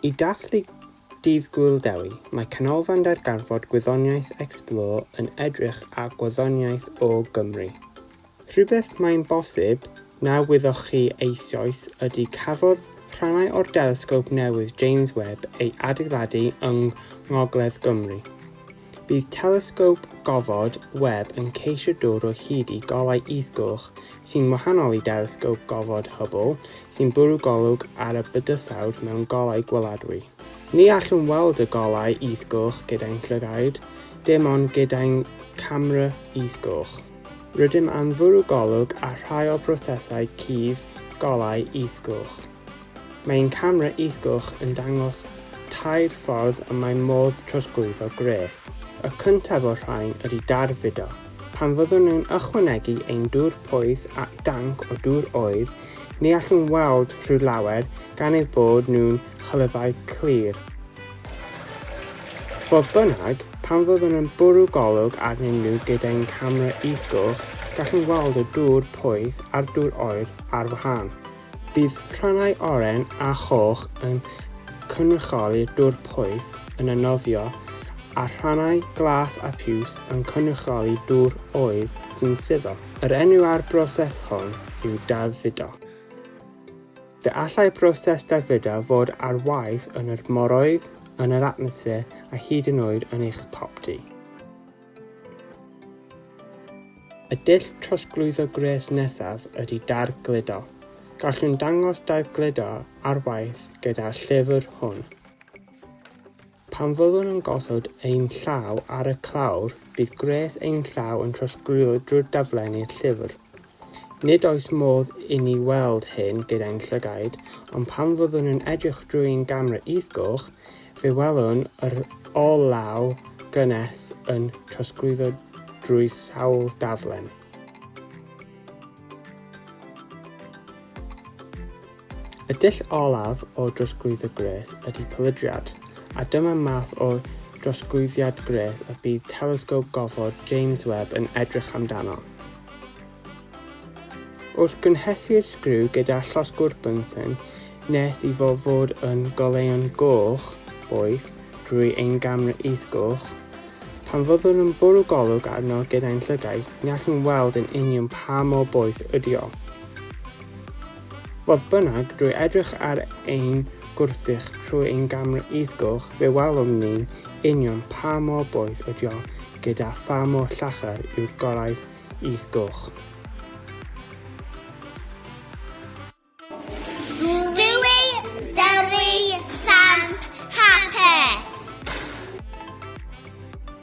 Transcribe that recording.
I dathlu Dydd Gŵyl Dewi, mae Canolfan Darganfod Gwyddoniaeth Explore yn edrych a gwyddoniaeth o Gymru. Rhywbeth mae'n bosib na wyddoch chi eisoes ydy cafodd rhannau o'r delesgop newydd James Webb ei adeiladu yng Ngogledd Gymru. Bydd Telesgop Gofod Webb yn ceisio dod o hyd i golau is-goch sy'n wahanol i Delesgop Gofod Hubble sy'n bwrw golwg ar y bydysawd mewn golau gweladwy. Ni allwn weld y golau is-goch gyda'n llygaid, dim ond gyda'n camera is-goch. Rydym am fwrw golwg ar rhai o brosesau cudd golau is-goch. Mae ein camera is-gwch yn dangos tair ffordd y mae modd trosglwyddo gwres. Y cyntaf o'r rhain ydy darfudo. Pan fyddwn yn ychwanegu ein dŵr poeth at danc o dŵr oer, ni allwn weld rhyw lawer gan eu bod nhw'n hylifau clir. Fodd bynnag, pan fyddwn yn bwrw golwg arnyn nhw gyda ein camera is-gwch, gallwn weld y dŵr poeth a'r dŵr oer ar wahân. Bydd rhannau oren a choch yn cynrychioli dŵr poeth yn y nofio a rhannau glas a piws yn cynrychioli dŵr oer sy'n suddo. Yr enw ar broses hon yw dadfudo. Fe allai broses dadfudo fod ar waith yn yr moroedd, yn yr atmosffer a hyd yn oed yn eich popty. Y dull trosglwyddo gwres nesaf ydy dargludo. Gallwn dangos dargludo ar waith gyda'r llyfr hwn. Pan fyddwn yn gosod ein llaw ar y clawr, bydd gwres ein llaw yn trosglwyddo drwy'r daflen i'r llyfr. Nid oes modd i ni weld hyn gyda'n llygaid, ond pan fyddwn yn edrych drwy'n gamera is-goch, fe welwn yr olew gynnes yn trosglwyddo drwy sawl daflen. Y dull olaf o drosglwyddo gwres ydy pylydriad, a dyma'r math o drosglwyddiad gwres y bydd Telesgop Gofod James Webb yn edrych amdano. Wrth gynhesu'r sgriw gyda llosgwr Bunsen, nes i fo fod yn goleuo'n goch boeth drwy ein gamera is-goch, pan fyddwn yn bwrw golwg arno gyda'n llygaid, ni allwn weld yn union pa mor boeth ydy o. Fodd bynnag, drwy edrych ar ein gwrthrych trwy ein gamera is-goch, fe welwn ni'n union pa mor boeth ydi o gyda pha mor llachar yw'r gorau is-goch.